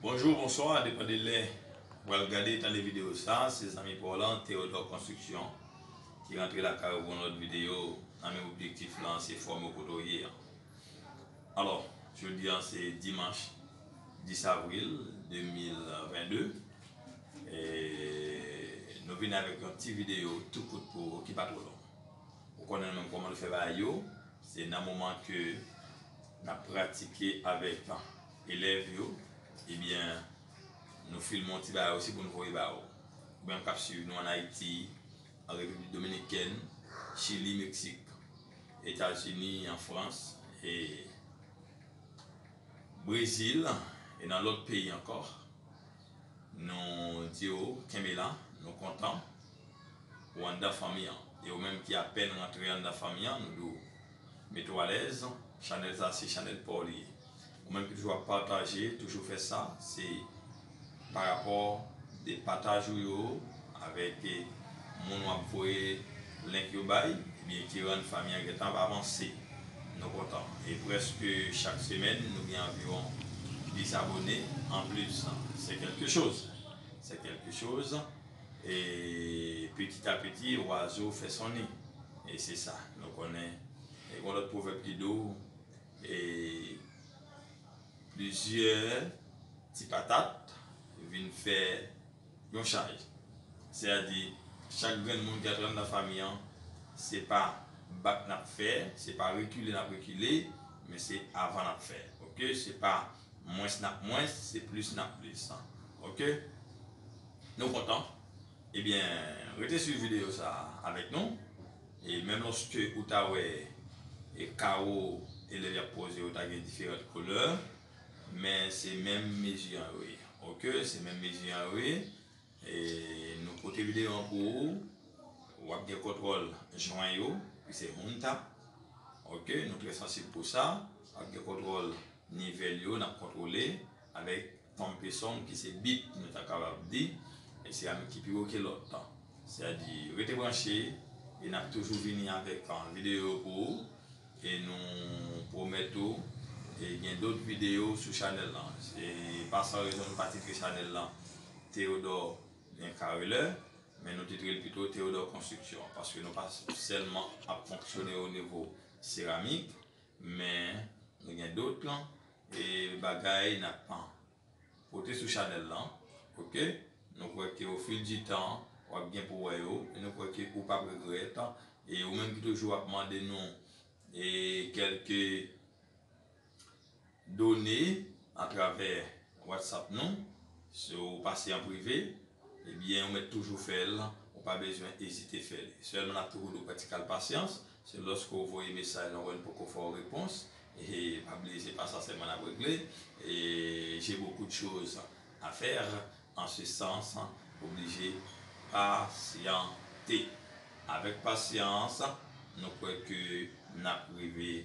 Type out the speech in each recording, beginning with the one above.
Bonjou, bonswa, depan de lè ou pral gade, tande videyo sa, se zanmi pa w lan, Theodore Construction, ki rantre lakay ou pou yon lòt videyo, nan menm objektif lan, se fòme w kote w ye an. Alò, jodi an se dimanch 10 avril 2022, e nou vini avèk yon ti videyo tou kout pou ou, ki pa twò long. Ou konnen menm kòman nou fè bagay yo, se nan moman ke n ap pratike avèk elèv yo, ebyen nou filme yon ti bagay osi pou nou voye ba ou. Ou menm k ap suiv nou an Ayiti, an Repiblik Dominikèn, Chili, Meksik, Etazini, an Frans, e Brezil, e nan lòt peyi ankò, nou di ou kenbe la, nou kontan. ou anndan fanmi an e ou menm ki apèn rantre anndan fanmi an nou di w mete w alèz chanèl sa se chanèl pa w li ye ou menm ki toujou ap pataje toujou fè sa se parapò de pataj ou yo avèk moun w ap voye link yo bay ebyen ki rann fanmi an gentan ap avanse nou kontan e prèske chak semèn nou gen anviwon 10 abone anplis se kèlke choz se kèlke choz. E piti a piti wazo fè son li. E se sa nou konnen. E gon lòt pwovèb ki di w e plizyè ti patat vin fè yon chay. Se a di chak grenn moun ki antre anndan fanmi an se pa bat n ap fè, se pa rekile n ap rekile men se avan n ap fè. Ok se pa. Mwens nap mwens se plis nap plis ok nou kontan ebyen rete swiv video sa avèk nou e menm loske ou ta wè e kawo elèv yap poze yo ta gen diferant kolè men se menm mezi an yo ye ok se menm mezi an yo ye. Nou pote video an pou ou. Wap gen kontwòl jwen yo ki se home tap ok nou trè sansib pou sa. Wap gen kontwòl nivel yo nap kontwole avèk pompe son ki se bip nou ta kapab di e se ann ki pi wo ke lòt. Sèdi rete branche e nap toujou vini avèk video pou ou. E nou pwomèt tou gen dot videyo sou chanèl lan. Se pa san rezon nou pa titre chanèl lan Theodore Careleur, men nou titre l pito Theodore Construction, paske nou pa sèlman ap fonksyone o nivo seramik, men nou gen dot bagay n ap Pote sou chanèl lan ok. Nou kwè ke o fil di tan wap gen pou wè yo e nou kwè ke ou pap regrèt e ou menm ki toujou ap mande nou e kèlke done atravè whatsapp nou si ou pase an prive ebyen ou mèt toujou fèl ou pa bezwen ezite fèl sèlman nap toujou di w pran ti kal pasyans Se lòske w voye mesaj lan wè n poko fè w repons, e pa bliye se pa sa sèlman n ap regle, e j'ai beaucoup de choses à faire en ce sens oblije pasyante. Avèk pasyans nou kwè ke n ap rive.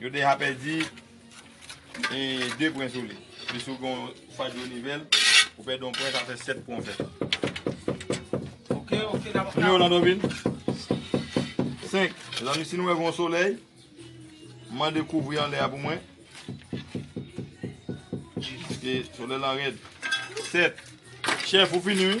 Yo deja pèdi 2 pwen sou li. Plis ou gen yon fadyo yon nivel, ou pèdi yon pwen, sa fè 7 pwen ou fè. Ok, ok, dam kap. Kounya ou nan Dovin? 5. Mezanmi, si nou wè gen yon solèy, mande kouvri anlè a pou mwen. Paske solèy lan rèd. 7. Chèf, ou fini wi.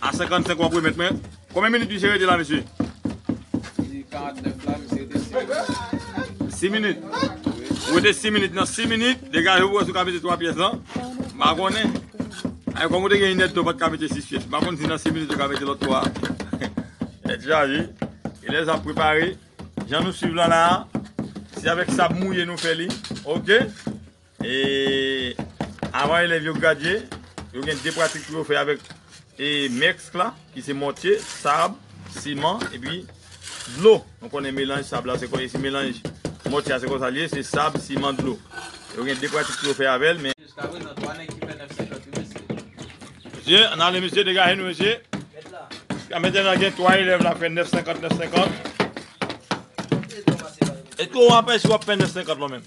A 55 wap remet mwen. Konbyen minit misye rete la mesye? Di 49 la misye rete 6 minit. 6 minit? Wi. Ou rete 6 minit nan 6 minit, degaje ou wè si ou ka mete 3 pyès lan. M pa konnen. Ay kòm ou te gen yn èdtan ou pat ka mete 6 pyès. M pa konnen si nan 6 minit ou ka mete lòt 3. Tèt chaje. Elèz ap prepare. Jan nou swiv lan la a. Se avèk sab mouye nou fè li. Ok. E avan elèv yo gradye, yo gen 2 pratik pou yo fè avèk e mèsk la ki se mòtye, sab, siman epi dlo. Nou konnen melanj sab la se konye si melanj mòtye a se konsa li ye se sab, siman, dlo. Yo gen 2 pratik pou yo fè avèl men. Jiskaprezan 3 nèg ki fè 9 50 wi mesye. Mesye ann ale mesye degaje nou mesye. Mèt la. Jiska mèt la gen 3 elèv la fè 9 50 9 50. Eske w apèsi w ap fè 9 50 lan menm?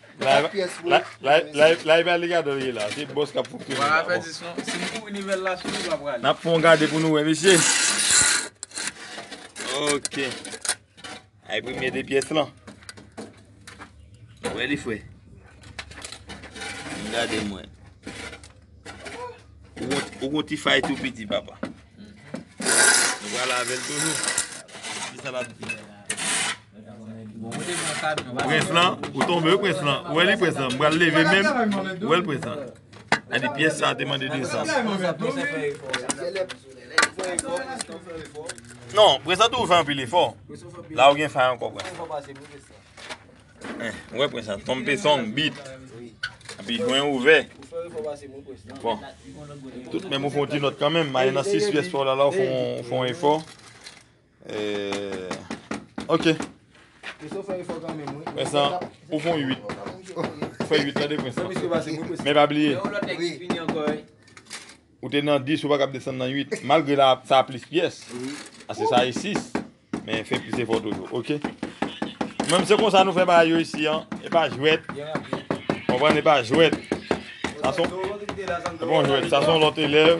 Live alligator ye la, se boss kap fonksyone la. Wala fè dis non, si m kouri nivel la sou li pa prale. Nap fon gade pou nou wè mesye. Ok. Ay premye de pyes lan. Wè li fwe. M gade mwen. Ou kon ti fay tou piti papa. M wala vel toujou. Ki sa la piti. Prens lan, ou tonbe wi prens lan. Ou wè li prens lan, m pral leve menm. Ou wè l prens lan. A di pyès sa te mande desann. Non, prens lan toujou fè anpil efò. La ou gen fay ankò prens lan. Ou wè prens lan, tonbe song, bit. Api jwen ouvè. Bon. Tout menm ou fon ti nòt kanmenm. Maye nan 6 pyès pa w la la ou fon efò. Eeeeh ok. Mesye ou fè efò kanmenm wi. Vincent ou fon 8. Ou fè 8 tande Vincent. Men pa bliye. Gen yon lòt nèg ki fini ankò wi. Ou te nan 10 ou pa kab desann nan 8. Malgre la sa a plis pyès. A se sa a e 6. Men fè plis efò toujou ok. Menm se konsa nou fè bagay yo isi an. E pa jwèt. Konprann e pa jwèt. Sa son. E pa jwèt sa son lòt elèv.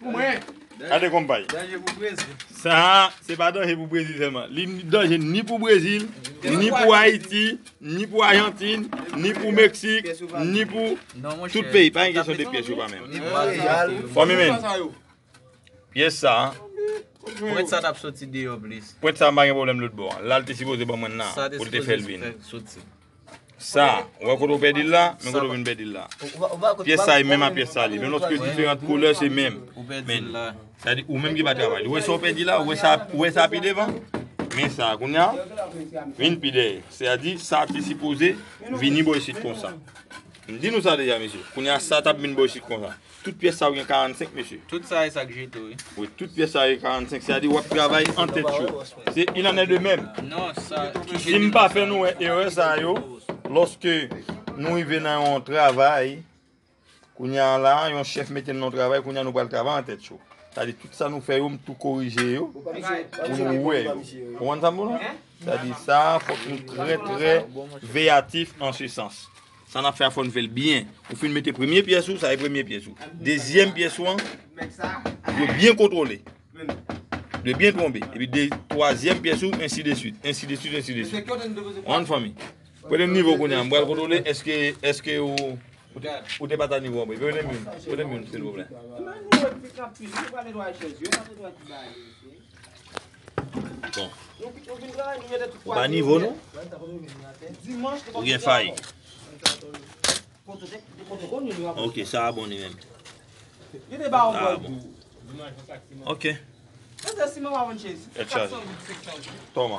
Pou mwen. Gade konpay. Danje pou Brezil. Sa a, se pa danje pou Brezil sèlman. Li danje ni pou Brezil, ni pou Ayiti, ni pou Ajantin, ni pou Meksik, ni pou tout peyi. Pa gen kesyon de pyès yo pa menm. Fanmi men, pyès sa a. Pwent sa a t ap soti deyò plis. Pwent sa a m pa gen pwoblèm lòtbò an. La l te sipoze ban mwen nan pou l te fè l vin. Sa, ou wè kote ou pèdi l la, men kote ou vin pèdi l la. Pyès sa e menm a pyès sa li, men lòske diferant koulè se menm. Men, sa di ou menm ki pa travay. Ou wè sa ou pèdi la, ou wè sa pi devan, men sa kounye a, vin pi dèyè. Se a di, sa ki sipoze vini bo isit konsa. M di nou sa deja mesye, kounye a sa tap vin bo isit konsa. Tout pyès sa yo gen 45 mesye? Tout sa e sak jete wi. Wi tout pyès sa yo gen 45 se a di wap travay an tèt yo. Se il en est de même. Non sa ki jete. Sim pa fè nou wè erè sa yo loske nou rive nan yon travay kounye a la yon chèf mete nou nan yon travay kounye a nou pral travay an tèt yo. Sa di tout sa nou fè yo m tou korije yo pou nou wè yo. Konprann sa m di w la? Sa di sa fòk nou trè trè veyatif an se sans. Sa nap fè a fòn fèl byen. Ou fin mete premye pyès ou, sa e premye pyès ou. Dezyèm pyès ou an, ou dwe byen kontwole. Ou dwe byen twonbe. Epi de twazyèm pyès ou, ensi de swit. Ensi de swit, ensi de swit. An fanmi. Pwede m nivo kounye an. M pral kontwole eske, eske ou, ou te pata nivo an. Pwede m youn, pwede m youn silvouplè. Bon. Ou pa nivo nou? Ou gen fay? Ok, sa a bon li menm. Sa a bon. Ok. Toma.